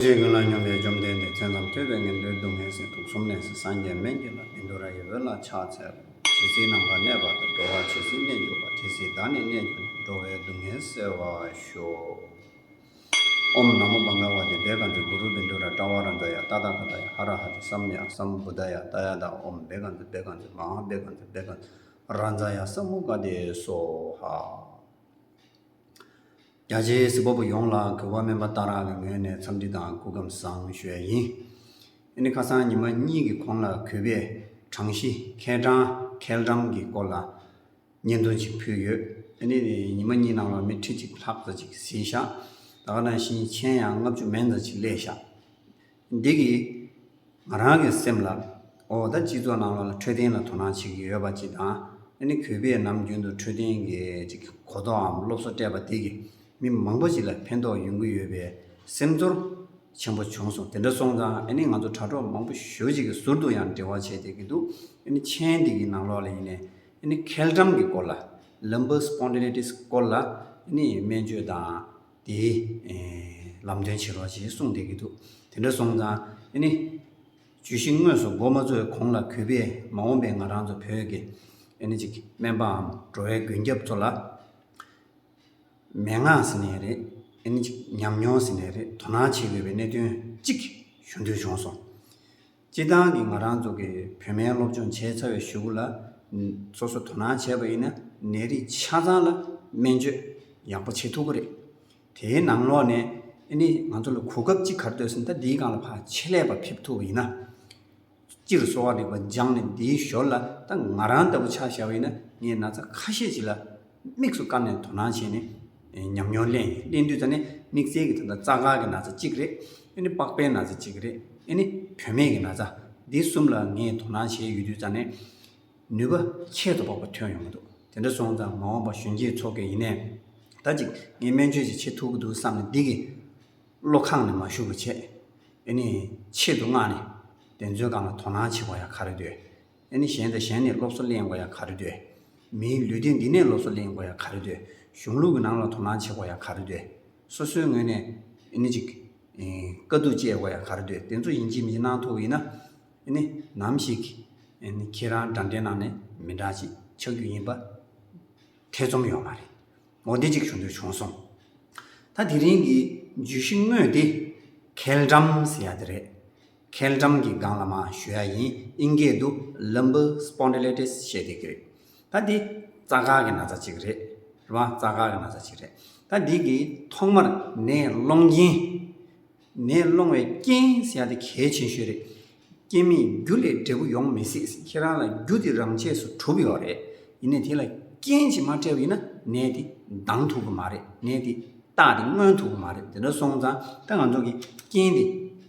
ཅེས་ཀུན་ལ་སྙོམས་པའི་བཅོམ་ལྡན་འདས་ཁྱོད་ནམ་ཐོས་པའི་ངན་འགྲོའི་སྡུག་བསྔལ་སྲིད་དུག་གསུམ་ནད་སྲི་སངས་རྒྱས་སྨན་གྱི་ལྷ་བིན་དུ་ར་ཡི་འོད་ལ་ཕྱག་འཚལ་ལོ། ཇི་སྲིད་ནམ་མཁའ་གནས་པ་དང་འགྲོ་བ་ཇི་སྲིད་གནས་གྱུར་པ་དེ་སྲིད་བདག་ནི་གནས་གྱུར་ནས་འགྲོ་བའི་སྡུག་བསྔལ་བསལ་བར་ཤོག། ཨོམ་ནམ་མོ་བང་ག་བ་ཏི་བེ་ག་ཛི་གུ་རུ་བིན་དུ་ར་ཏྲ་བ་ར་འཛ་ཡ་ཏཱ་ཏཱ་ཀ་ཏཱ་ཡ་ཧ་ར་ཧ་ཏི་སམ་ཡ་སམ་བུ་ཏཱ་ཡ་ཏཱ་ཡ་ཏཱ་ཨོམ་བེ་ག་ཛི་བེ་ག་ཛི་མ་ཧཱ་བེ་ག་ཛི་བེ་ག་ཛི་ར་འཛ་ཡ་སམ་མུ་ཀ་ཏི་སོ་ཧ། རྒྱ་ཆེའི་གཟིགས་པ་པོ་ཡོངས་ལ་གུས་པ་སྨོན་པ་ལྟ་རག་གི་ངོས་ནས་འཚམས་འདྲི་དང་སྐུ་བསྒམས་བཟང་ཞོས་ཡིན། ཨེ་ནི་ཁ་སང་ཉི་མ་གཉིས་ཀྱི་གོང་ལ་གུས་པས་གྲངས་གཞི་ཁེ་གྲངས་ཁེལ་གྲངས་ཀྱི་སྐོར་ལ་བརྙན་ཐུང་ཞིག་ཕུལ་ཡོད། ཨེ་ནི་ཉི་མ་གཉིས་ནང་ལ་མི་ཁྲི་གཅིག་ལྷག་ཙ་ཅིག་བཟི་ཤག་ད་ག་དང་ཞིང་ཆེན་ཡང་ལྔ་བཅུ་མན་ཙ་ཅིག་བསླེས་ཤག་འདི་གིས་ང་རང་གི་སེམས་ལ། འོ་ད་སྤྱི་ཚོགས་ནང་ལོགས་ལ་འཕྲོད་བསྟེན་ལ་དོ་སྣང་བྱེད་ཀྱི་ཡོད་པ་ཅིག་དང། ཨ་ནི་གུས་པས་ནམ་རྒྱུན་དུ་འཕྲོད་བསྟེན་གྱི་གཅིག་གོ་རྟོགས་འམ་སློབ་གསོ་སྤྲད་པ་འདི་གིས་མི་མང་པོ་ཞིག་ལ་ཕན་ཐོགས་ཡོང་གི་ཡོད་པའི་སེམས་ཚོར་ཆེན་པོ་བྱུང་སོང་དེ་འདྲ་སོང་ཙང་ཨ་ནི་ང་ཚོ་དྲ་གྲོགས་མང་པོ་ཞོལ་གཅིག་གི་ཟུར་དུ་ཡང་འབྲེལ་བ་བྱས་བསྡད་ཀྱི་འདུག་ཨ་ནི་མཆན་འདི་གི་ནང་ལོགས་ལ་ཡིན་ནས་ཨ་ནི་ཁེལ་འགྲམ་གྱི་སྐོར་ལ། Lumbar Spondylitis། སྐོར་ལ་ཨ་ནི་སྨན་བཅོས་དང། དེ། ལམ་སྟོན་བྱེད་རོགས་ཞེས་གསུངས་བསྡད་ཀྱི་འདུག་དེ་འདྲ་སོང་ཙང། ཨེ་ནི། བརྗོད་གཞི་དངོས་སུ་མགོ་མ་འཚོས་གོང་ལ་གུས་པས་མ་འོངས་པའི་ང་རང་ཚོ་བོད་ཀྱི། ཨེ་ནི། སྨན་པའམ་འགྲོ་བའི་མགོན་སྐྱབས་ཚོ་ལ། མན་ངག་ཟེར་ནས་རེད། ཨེ་ནི། ཉམས་མྱོང་ཟེར་ནས་རེད་དོ་སྣང་བྱེད་དགོས་པའི་གནད་དོན་གཅིག་ཞུ་འདོད་བྱུང་སོང། སྤྱིར་བཏང་གི་ང་རང་ཚོ་གི་བོད་སྨན་སློབ་སྦྱོང་བྱས་ཚར་བའི་ཞུ་བོ་ལ་སོ་སོ་དོ་སྣང་བྱས་པ་ཡིན་ན་ནད་རིགས་ཆ་ཚང་ལ་སྨན་བཅོས་ཡག་པོ་བྱེད་ཐུབ་ཀི་རེད། དེའི་ནང་ལོགས་ནས་ཨེ་ནི་ང་ཚོ་ལ་གོ་སྐབས་ཅིག་གར་སྡོད་ཟིན་ད་འདིའི་སྒང་ལ་ཕ་ཆེད་ལས་པ་ཕེབས་ཐུབ་པ་ཡིན་ན། སྤྱིར་གསོ་བ་རིག་པ་སྦྱངས་ནས་འདིའི་ཞོར་ལ་ད་ང་རང་ལྟ་བུ་ཆགས་བཞག་པ་ཡིན་ན་ངས་ན་ཚ་ཁ་ཤས་ཅིག་ལ་དམིགས་སུ་བཀར་ནས་དོ་སྣང་བྱས་ནས་ཉམས་མྱོང་གླེང། གླེང་དུས་ད་ནི་དམིགས་བསལ་གྱི་ད་ལྟ་རྩ་འགག་གི་ན་ཚ་གཅིག་རེད། ཨེ་ནི་པགས་པའི་ན་ཚ་གཅིག་རེད། ཨེ་ནི་དོན་མེད་ཀྱི་ན་ཚ། འདི་གསུམ་ལ་ངས་དོ་སྣང་བྱས་ཡོད་དུས་ད་ནི་ནུས་པ་ཁྱད་དུ་འཕགས་པ་ཐོན་ཡོང་གི་འདུག་དེ་འདྲ་སོང་ཙང་མ་འོངས་པ་གཞོན་སྐྱེས་ཚོ་གི་ཡིན་ནས་ད་ཅིག་ངས་སྨན་བཅོས་ཅིག་བྱེད་ཐུབ་ཀྱི་འདུག་བསམ་ནས་འདི་གི་བློ་ཁངས་ནས་མ་ཞུགས་པར་བྱས། ཨེ་ནི་ཆེད་དུ་མངགས་ནས་བདེན་རྫུན་གང་ལ་དོ་སྣང་བྱེད་པ་ཡང་ག་རེ་འདོད། ཨེ་ནི་གཞན་དང་གཞན་ནས་སློབ་གསོ་གླེང་དགོས་ཡ་ག་རེ་འདོད། མིའི་ལུས་སྟེང་འདི་ནས་སློབ་གསོ་གླེང་དགོས་ཡ་ག་རེ་འདོད། གཞུང་ལུགས་ཀྱི་ནང་ལ་དོ་སྣང་བྱེད་དགོས་ཡ་ག་རེ་འདོད། སོ་སོའི་ངོས་ནས་ཨེ་ནི་ཅིག། དཀའ་སྡུག་སྤྱད་དགོས་ཡ་ག་རེ་འདོད་དེ་ཚོ་ཡིན་གྱི་མི་གནང་ཐུབ་ཡིན་ན། ཨེ་ནི་ནམ་ཞིག། ཨེ་ནི་ཁྱེད་རང་དགྲ་འདྲེ་ནང་ནས་མི་དྲག་ཅིག་ཆགས་རྒྱུ་ཡིན་པ། ཐེ་ཚོམ་ཡོད་མ་རེད། མོ་འདི་ཅིག་ཞུ་འདོད་བྱུང་སོང། ད་དེ་རིང་གི་བརྗོད་གཞི་དངོས་དེ། ཁེལ་འགྲམ་ཟེར་ཡ་དེ་རེད། མཁལ་འགྲམ་གྱི་སྒང་ལ་མ་ཞུ་ཡ་ཡིན་ཨིན་སྐད་དུ Lumbar Spondylitis ཞེས་བརྡས་ཀྱི་རེད། ད་འདི་རྩ་འགག་གི་ན་ཚ་གཅིག་རེད། རེད་མ་རྩ་འགག་གི་ན་ཚ་གཅིག་རེད། ད་འདི་གི་ཐོག་མར་ནད་སློང་རྐྱེན། ནད་སློང་བའི་རྐྱེན་ཟེར་ཡ་དེ་གལ་ཆེན་ཤོས་རེད། རྐྱེན་མེད་རྒྱུ་ལས་འབྲས་བུ་ཡོང་མི་སྲིད་ཁྱེད་རང་ལ་རྒྱུ་དེ་རང་ཆས་སུ་གྲུབ་ཡོད་རེད། ཡིན་ནས་དེ་ལ་རྐྱེན་ཅིག་མ་བྲལ་བ་ཡིན་ན་ནད་དེ་ལྡང་ཐུབ་ཀྱི་མ་རེད་ནད་དེ་བཏགས་ཏེ་མངོན་ཐུབ་ཀྱི་མ་རེད་དེ་འདྲ་སོང་ཙང་ད་ང་ཚོ་གི་རྐྱེན་དེ།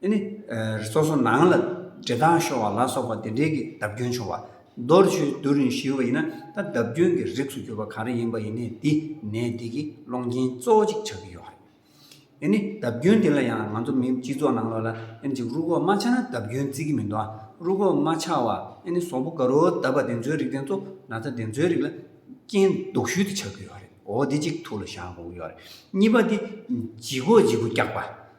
འདི་ནི་སོ་སོ་ནང་ལ་འདྲེ་སྡང་ཤོར་བ་ལ་སོགས་པ་དེ་འདྲེ་གི་བརྡབ་སྐྱོན་བྱུང་བ། རྡོར་བཅུད་བསྡུ་རིང་ཞུས་པ་ཡིན་ན་ད་བརྡབ་སྐྱོན་གྱི་རིགས་སུ་གྱུར་པ་ག་རེ་ཡིན་པ་ཡིན་ནས་འདི་ནད་འདི་གི་སློང་རྐྱེན་གཙོ་བོ་གཅིག་ཆགས་ཀྱི་ཡོད་རེད། འདི་ནི་བརྡབ་སྐྱོན་འདི་ལ་ཡང་ང་ཚོ་མི་སྤྱི་ཚོགས་ནང་ལོགས་ལ་ཨེ་ཅིག་རུ་ཁོག་མ་ཆག་ན་བརྡབ་སྐྱོན་བརྩི་གི་མི་འདུག་ཨ་རུ་ཁོག་མ་ཆག་བ་ཨེ་ནི་ཟོག་པོ་ག་རུ་བརྡབ་པ་དེ་ཚོའི་རིགས་དེ་ཚོ་ན་ཚ་དེ་ཚོའི་རིགས་ལ་རྐྱེན་སྡུག་ཤུལ་དེ་ཆགས་ཀྱི་ཡོད་རེད་འོ་འདི་གཅིག་ཐུགས་ལ་བཞག་དགོས་ཀྱི་ཡོད་རེད་གཉིས་པ་འདི་ལྗིད་ཁོག་ལྗིད་པོ་རྒྱག་པ།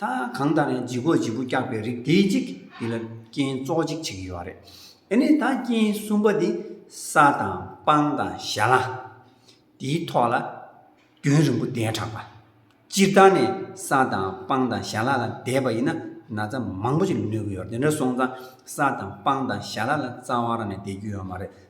ད་གང་ལྟར་ཡང་ལྗིད་ཁོག་ལྗིད་པོ་བཀྱགས་པའི་རིགས་དེའི་གཅིག་འདི་ལ་རྐྱེན་གཙོ་གཅིག་བྱེད་ཀྱི་ཡོད་རེད། དེ་ནས་ད་རྐྱེན་གསུམ་པ་འདི་ས་དང་སྤང་དང་ཞྭ་ལ། དེའི་ཐོག་ལ་རྒྱུན་རིང་པོ་བསྡད་དྲགས་པ། སྤྱིར་བཏང་ནས་ས་དང་སྤང་དང་ཞྭ་ལ་ལ་བསྡད་པ་ཡིན་ན་ན་ཚ་མང་པོ་ཞིག་ལ་གནོད་ཀྱི་ཡོད་རེད་དེ་འདྲ་སོང་ཙང་ས་དང་སྤང་དང་ཞྭ་ལ་ལ་རྩ་བ་རང་ནས་བསྡད་རྒྱུ་ཡོད་མ་རེད་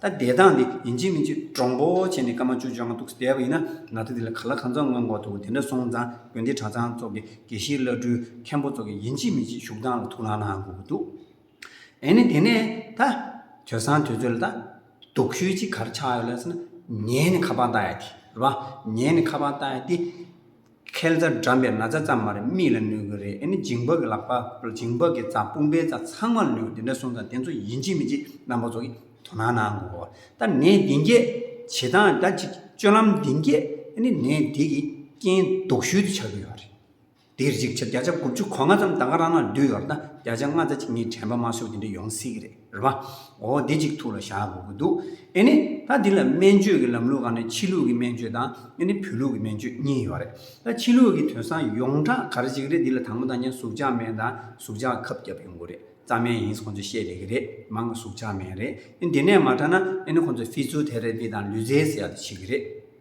ད་བསྡད་སྟངས་འདི་ཡིན་གཅིག་མིན་གཅིག་གྲོང་པོ་བྱས་ནས་སྐར་མ་བཅུ་བཅོ་ལྔ་འདུག་བསྡད་པ་ཡིན་ན་ང་ཚོ་འདི་ལ་ག་ལ་གང་འཚམ་མངོན་དགོས་འདུག་དེ་འདྲ་སོང་ཙང་དགོན་སྡེ་གྲྭ་ཚང་སོགས་ཀྱི་དགེ་བཤེས་བླ་སྤྲུལ་མཁན་པོ་སོགས་ཀྱི་ཡིན་གཅིག་མིན་གཅིག་བཞུགས་སྟངས་ལ་ཐུགས་ལང་ལང་དགོས་ཀྱི་འདུག་ཨེ་ནི་དེ་ནས་ད། དུས་སང་དུས་ཚོད་ལ་ད། དུག་ཤོས་གཅིག་གར་ཆགས་ཡོད་ལ་ཟེར་ན། ངས་ནི་ཁ་པང་བཏགས་ཡ་དེ་རེད་པ། ངས་ནི་ཁ་པང་བཏགས་ཡ་དེ། ཁལ་རྩ་འགྲམ་པའི་ན་ཚ་ཙམ་མ་རེད་མིག་ལ་ནུས་གི་རེད་ཨ་ནི་འགྱིང་བག་གི་ལག་པ་འགྱིང་བག་གི་རྩ་དཔུང་པའི་རྩ་ཚང་མ་ལ་ནུས་གི་དེ་འདྲ་སོང་ཙང་དེ་ཚོ་ཡིན་གཅིག་མིན་གཅིག་རྣམ་པ་ཚོ་གིས་དོ་སྣང་གནང་དགོས་པ་ད་ནས་འདི་འགས་བྱེད་སྟངས་ད་ཅིག་སྤྱོད་ལམ་འདི་འགས་ཨ་ནི་ནས་འདི་གིས་རྐྱེན་ལྡོག་ཤུལ་དུ་ཆགས་ཀྱི་ཡོད་རེད་དེ་རིགས་ཅིག་བྱས་བརྒྱ་ཆ་དགུ་བཅུ་གོ་ལྔ་ཙམ་ད་ག་རང་ན་འདུས་ཡོད་རེད་ད་བརྒྱ་ཆ་ལྔ་ཙ་ཅིག་གཉིས་དྲན་པ་མ་བཟོད་དེ་འདྲ་ཡོང་སྲིད་གི་རེད། རེད་པ། འོ་དེ་གཅིག་ཐུགས་ལ་བཞག་དགོས་ཀྱི་འདུག་ཨེ་ནི། ད་འདི་ལ་སྨན་བཅོས་ཀྱི་ལམ་ལུགས་གང་ནི་ཕྱི་ལུགས་ཀྱི་སྨན་བཅོས་དང་ཨེ་ནི་བོད་ལུགས་ཀྱི་སྨན་བཅོས་གཉིས་ཡོད་རེད། ད་ཕྱི་ལུགས་ཀྱི་དོན་སང་ཡོངས་གྲགས་གར་གཅིག་རེད་འདི་ལ་དང་པོ་དང་གཉིས་ཟུག་ཆག་སྨན་དང་ཟུག་ཆག་ཁབ་བརྒྱབ་ཡོང་དགོས་རེད་རྩ་སྨན་ཡིན་ཁོང་ཚོས་བཤད་ལེ་གི་རེད་མང་གི་ཟུག་ཆག་སྨན་རེད་ཨེ་འདི་ནས་མ་དྲག་ན་ཨེ་ནི་ཁོང་ཚོས་ཕི་ཚུལ་དེ་རེད་འདི་དང་ལུས་རྩལ་ཟེར་ཡག་དེ་བྱེད་ཀྱི་རེད།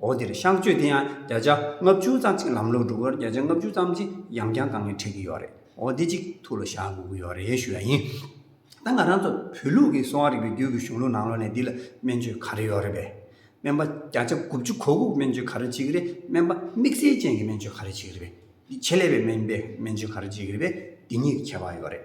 འོག་འདིར་གཤག་བཅོས་དེ་ཡང་བརྒྱ་ཆ་ལྔ་བཅུ་ཙམ་ཚིག་ལམ་ལུགས་སྒྲུབ་པར་བརྒྱ་ཆ་ལྔ་བཅུ་ཙམ་གྱི་ཡང་རྐྱང་གང་ངེས་འཁྲིད་ཀྱི་ཡོད་རེད་འོག་འདི་གཅིག་ཐུགས་ལ་བཞག་དགོས་ཀྱི་ཡོད་རེད་ཞུ་བ་ཡིན། ད་ང་རང་ཚོ་བོད་ལུགས་ཀྱི་གསོ་བ་རིག་པའི་རྒྱུད་ཀྱི་གཞུང་ལུགས་ནང་ལོགས་ནས་འདི་ལ་སྨན་བཅོས་ག་རེ་ཡོད་རེད་པས། སྨན་པ་བརྒྱ་ཆ་དགུ་བཅུ་གོ་དགུ་སྨན་བཅོས་ག་རེ་བྱེད་ཀྱི་རེད་སྨན་པ་དམིགས་བསལ་ཅན་གྱི་སྨན་བཅོས་ག་རེ་བྱེད་ཀྱི་རེད་པས། འདི་ཆེད་ལས་པའི་སྨན་པས་སྨན་བཅོས་ག་རེ་བྱེད་ཀྱི་རེད་པས་འདི་གཉིས་ཀྱི་ཁྱད་པར་ཡོད་རེད།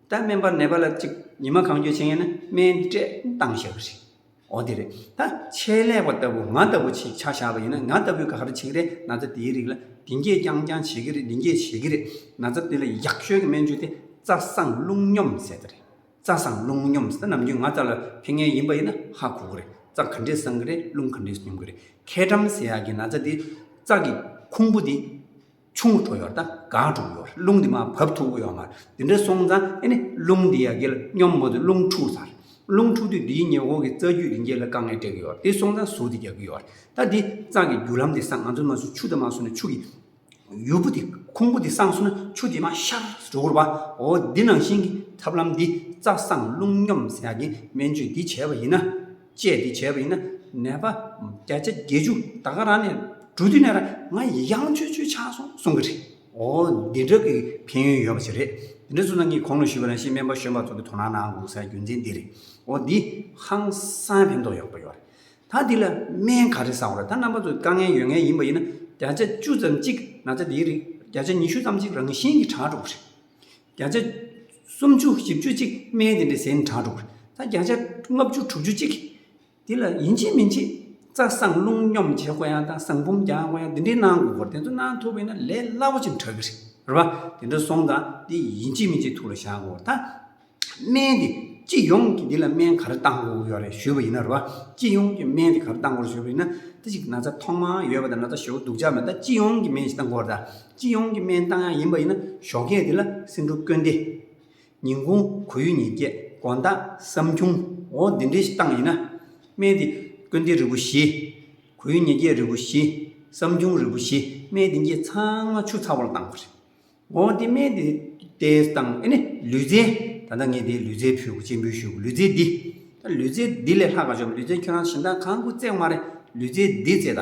ད་སྨན་པར་ནད་པ་ལ་ཅིག་ཉི་མ་གང་འགྱོད་བྱེད་ཡིན་ན་སྨན་སྤྲད་བཏང་ཞེས་པ་རེད། འོ་དེ་རེད། ད་ཆད་ལས་པ་ལྟ་བུ་ང་ལྟ་བུ་ཆིག་ཆག་བཞག་པ་ཡིན་ན་ང་ལྟ་བུས་ག་རེ་བྱེད་ཀི་རེད་ན་ཚ་དེའི་རིགས་ལ་དེ་འགྱེད་རྐྱང་རྐྱང་བྱེད་ཀི་རེད་འདི་འགྱེད་བྱེད་ཀི་རེད། ན་ཚ་དེ་ལ་ཡག་ཤོས་ཀྱི་སྨན་བཅོས་དེ་རྩ་བཟང་རླུང་སྙོམས་ཟེར་ད་རེད། རྩ་བཟང་རླུང་སྙོམས་ཟེར་ན་ནམ་རྒྱུན་ང་ལྟ་ལ་ཕན་ངེས་ཡིན་པ་ཡིན་ན་ཧ་གོ་གི་རེད་རྩ་ག་འདྲས་བཟང་གི་རེད་རླུང་ག་འདྲས་སྙོམས་ཀི་རེད། ཁེ་དྲམ་ཟེར་ཡག་གི་ན་ཚ་དེ་རྩ་གི་ཁུང་བུ་དེ། ཆུང་ངུ་འཕྲོ་ཡོར་དང་གང་འཁྲུགས་ཡོར་རླུང་འདི་མ་བབས་ཐུག་གོ་ཡོང་མར་འདི་འདྲ་སོང་ཙང་ཨེ་ནི་རླུང་འདི་ཡ་གེ་ལ་སྙོམས་མོ་འདི་རླུང་འཁྲུགས་ཚར། རླུང་འཁྲུགས་དུས་འདིའི་ཉེ་འོག་གི་རྩ་རྒྱུས་རིན་རྒྱས་ལ་དཀའ་ངལ་འཕྲད་ཀྱི་ཡོར་དེ་སོང་ཙང་ཟུག་འདི་རྒྱག་གི་ཡོར་ད་འདི་གཙང་གི་རྒྱུ་ལམ་འདི་སངས་ང་ཚོའི་མ་སུ་ཆུ་དེ་མ་སོང་ནས་ཆུ་གི་ཡུར་བུ་འདི་ཁུང་བུ་འདི་སངས་སོང་ན་ཆུ་དེ་མ་ཤར་འགྲོ་གི་རུ་བ་འོ་འདི་ནང་བཞིན་གྱི་ཐབས་ལམ་འདི་རྩ་སངས་རླུང་སྙོམས་ས་ཡ་གེ་སྨན་བཅོས་འདི་བྱས་པ་ཡིན་ན། ཅེས་འདི་བྱས་པ་ཡིན། ནད་པ་བརྒྱ་ཆ་བརྒྱད་ཅུ་ད་ག་རང་ནས་འགྲོ་དུས་ནས་ར་ང་ཡི་གཡང་ཆོས་ཆོས་ཆགས་སོང་གསུང་གི་རེད། འོ་འདི་འདྲ་གི་ཕན་ཡོན་ཡོད་པ་ཞིག་རེད། འདི་འདྲ་གསུང་ན་ངས་གོང་ནས་ཞུས་པ་རང་བཞིན་སྨན་པ་གཞོན་པ་ཚོ་གི་དོ་སྣང་གནང་དགོས་སའི་རྒྱུ་མཚན་འདི་རེད། འོ་འདི་ཧང་སང་ཕན་ཐོགས་ཡོད་པ་ཡོད་རེད། ད་འདི་ལ་སྨན་ག་རེ་བཟང་བ་རེད་ད་རྣམ་པ་ཚོ་དཀའ་ངལ་ཡོད་ངེས་ཡིན་པ་ཡིན་ན་བརྒྱ་ཆ་བཅུ་ཙམ་གཅིག་ན་ཚ་འདིའི་རིགས་བརྒྱ་ཆ་ཉི་ཤུ་ཙམ་གཅིག་རང་བཞིན་གྱིས་དྲག་འགྲོ་གི་རེད། བརྒྱ་ཆ་སུམ་བཅུ་བཞི་བཅུ་གཅིག་སྨན་དེ་འདྲས་ཟན་གྲངས་དྲུག་ད་བརྒྱ་ཆ་ལྔ་བཅུ་དྲུག་ཅུ་གཅིག་དེ་ལ་ཡིན་གཅིག་མིན་གཅིག་རྩ་གསང་རླུང་སྙོམས་བྱེད་དགོས་ཡང་དང་གསང་བུམ་རྒྱག་དགོས་ཡང་དེ་འདྲས་གནང་དགོས་སྐོར་དེ་ཚོ་གནང་ཐུབ་པས་ན་ལས་སླ་པོ་ཅིག་འདྲ་གི་རེད་རེད་པ་དེ་འདྲ་སོང་དང་དེ་ཡིན་གཅིག་མིན་གཅིག་ཐུགས་ལ་བཞག་དགོས་སྐོར་དང། སྨན་དེ་སྤྱི་ཡོངས་ཀྱི་དེ་ལ་སྨན་ག་རེ་བཏང་དགོས་ཡོད་རེད་ཞུས་པ་ཡིན་ན་རེད་པ་སྤྱི་ཡོངས་ཀྱི་སྨན་དེ་ག་རེ་བཏང་དགོས་རེད་ཞུས་པ་ཡིན་ན་དེ་གཅིག་ན་ཚ་ཐོག་མར་ཡོད་པ་དང་ན་ཚ་ཞོ་དུགས་འཇགས་མེད་ད་སྤྱི་ཡོངས་ཀྱི་སྨན་ཞིག་བཏང་དགོས་རེད་ད། སྤྱི་ཡོངས་ཀྱི་སྨན་ཐང་ཡང་ཡིན་པ་ཡིན་ན་ཞོགས་ཁས་དེ་ལ་སེམས་འཁྲུག་སྐྱོན་ཏེ། ཉིན་གུང་གོ་ཡུལ་ཉིན་བརྒྱད་དགོན་བདག་བསམ་ཁྱུང་འོ་འདི་འདྲའི་སྟངས་ཡིན་ན། སྨན་དེ་དཀོན་ཏེ་རིལ་བུ་བཞི། གོ་ཡུལ་ཉིན་བརྒྱད་རིལ་བུ་བཞི། བསམ་ཁྱུང་རིལ་བུ་བཞི་སྨན་དེ་འགྱེད་ཚང་མ་ཆུ་ཚ་བོར་བཏང་བ་རེད། འོ་དེ་སྨན་དེ་ལྟའི་སྟངས་ཨེ་ནི་ལུས་རྩལ། ད་ལྟ་ངས་དེའི་ལུས་རྩལ་ཕུལ་གོ་སྤྱན་འབུལ་ཞུས་གོ་ལུས་རྩལ་འདི། ལུས་རྩལ་འདི་ལས་ལྷག་ག་ཞོག་ལུས་རྩལ་ཁྱོད་རང་གཞན་དག་གང་དགོས་བརྩེགས་མ་རེད་ལུས་རྩལ་འདི་བརྩེགས་ད།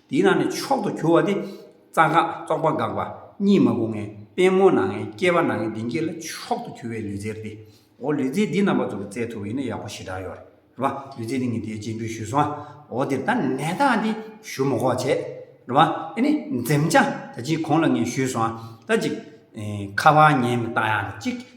དེའི་ནང་ནས་མཆོག་ཏུ་གྱུར་བ་དེ། རྩ་འགག་རྟོག་པ་འགགས་པ་གཉིས་མ་གོ་ངན་པད་མོ་ནང་ངན་སྐྱེས་པ་ནང་ངན་བདེན་སྐྱེས་ལ་མཆོག་ཏུ་གྱུར་བའི་ལུས་རྩལ་ཏེ། འོ་ལུས་རྩལ་འདི་རྣམ་པ་ཚོ་རྩལ་ཐུབ་པ་ཡིན་ན་ཡག་པོ་ཞེ་དྲག་ཡོད་རེད་པ། ལུས་རྩལ་འདི་ངས་འདིའི་སྤྱི་འགྲོས་ཞུས་སོང་ཨ། འོ་འདིར་ད་ནད་རྟགས་འདི་ཞུ་མོ་ཁོག་བྱས། རེད་པ། དེ་ནས་འཛེམ་བྱ་ད་ཅིག་གོང་ལ་ངས་ཞུས་སོང་ཨ། ད་ཅིག། ཁ་བ་ཉན་མི་རྟགས་ཡང་ད་ཅིག།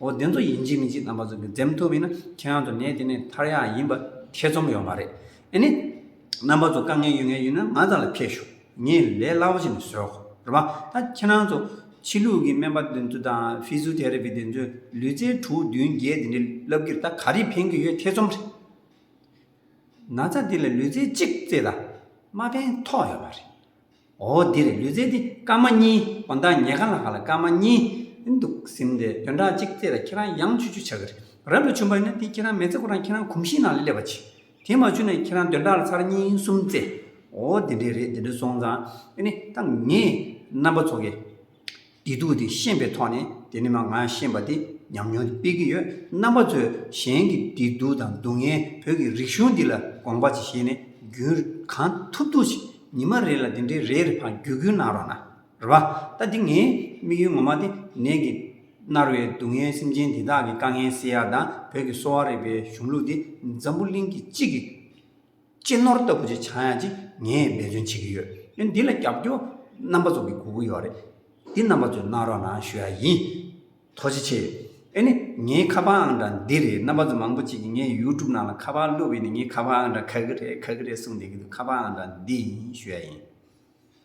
འོ་དེ་ཚོ་ཡིན་གཅིག་མིན་གཅིག་རྣམ་པ་ཚོ་གི་འཛེམ་ཐུབ་ཡིན་ན་ཁྱེད་རང་ཚོ་ནད་དེ་ནས་ཐར་ཡག་ཡིན་པ་ཐེ་ཚོམ་ཡོད་མ་རེད་ཨེ་ནི། རྣམ་པ་ཚོ་དཀའ་ངལ་ཡོད་ངེས་ཡིན་ན་ང་ཚང་ལ་ཕེབས་ཤོག་ངས་ལས་སླ་པོ་བྱེད་ནས་བཟོས་ཧོ་རེད་མ་ད་ཁྱེད་རང་ཚོ་ཕྱི་ལུགས་ཀྱི་སྨན་པ་དེ་ཚོ་དང་ཕིཟུ་དྷེ་ར་པི་དེ་ཚོས་ལུས་རྩལ་དྲུག་བདུན་བརྒྱད་དེ་འདྲའི་བསླབ་གིར་ད་ག་རེ་ཕན་གི་ཡོད་ཐེ་ཚོམ་རེད། ན་ཚ་དེ་ལ་ལུས་རྩལ་གཅིག་རྩེ་ད་མ་ཕན་ཐོག་ཡོད་མ་རེད། འོ་འདིར་ལུས་རྩལ་འདི་སྐར་མ་གཉིས་འོ་མདའ་ཉལ་ཁ་ལ་ཁ་ལ་སྐར་མ་གཉིས་འདུག་ཟིན་ཏེ་བདུན་ཕྲག་གཅིག་ཚེས་ལ་ཁྱེད་རང་གཡང་ཆུ་ཆུ་བྱ་གི་རེད་རབ་ལ་ཆུ་འབར་ན་དེ་ཁྱེད་རང་མེ་བཙའ་ཁོ་རང་ཁྱེད་རང་གོམས་གཤིས་ནང་ལ་སླེབས་པ་ཆེ་དེ་མ་ཆུ་ན་ཁྱེད་རང་བདུན་ཕྲག་ལ་ཚར་གཉིས་གསུམ་བཙའ་འོ་དེ་འདྲའི་རེད་དེ་འདྲའི་སོང་ཙང་དེ་ནི་ད་ངས་རྣམ་པ་ཚོགས་ཀྱི། བདེ་སྡུག་དེ་ཤེས་པའི་ཐོག་ནས་དེ་ནི་མ་ང་ཤེས་པ་དེ་ཉམས་མྱོང་དེ་སྤེལ་གྱི་ཡོད་རྣམ་པ་ཚོས་གཞན་གྱི་བདེ་སྡུག་དང་སྡུག་བསྔལ་བོད་ཀྱི་རིག་གཞུང་འདི་ལ་དགོངས་པ་ཅིག་བཞེས་ནས་རྒྱུན་གང་ཐུབ་ཐུབ་ཅིག་ཉི་མ་རེ་ལ་འདི་འདྲའི་རེ་རེ་འཕངས་རྒྱུ་རྒྱུ་གནང་རོགས་གནང་རོགས། ད་འདི་ངའི་དམིགས་ཡུལ་ངོ་མ་དེ་ནད་ཀྱིས་མནར་བའི་སྡུག་བསྔལ་སེམས་ཅན་དེ་དག་གི་དཀའ་ངལ་སེལ་ཡག་དང་བོད་ཀྱི་གསོ་བ་རིག་པའི་གཞུང་ལུགས་དེ་འཛམ་བུ་གླིང་གི་གཅིག་གི་གཅེས་ནོར་ལྟ་བུ་ཅིག་ཆགས་ཡ་ཅིག་ངས་འབད་བརྩོན་བྱེད་ཀྱི་ཡོད། ཡང་འདི་ལ་རྒྱབ་སྐྱོར་རྣམ་པ་ཚོ་གི་དགོས་མཁོ་ཡོད་རེད། འདི་རྣམ་པ་ཚོས་གནང་རོགས་གནང་ཞུ་ཡ་ཡིན། ཐོག་ཅི་ཆེ། ཨེ་ནི་ངའི་ཁ་པར་ཨང་གྲངས་འདི་རེད་རྣམ་པ་ཚོ་མང་པོ་ཅིག་གིས་ངའི YouTube ནང་ལ་ཁ་པར་བླུགས་པས་ནི་ངའི་ཁ་པར་ཨང་གྲངས་ག་གི་རེད་ག་གི་རེད་གསུངས་བསྡད་ཀྱི་འདུག་ཁ་པར་ཨང་གྲངས་འདི་ཡིན་ཞུ་ཡ་ཡིན།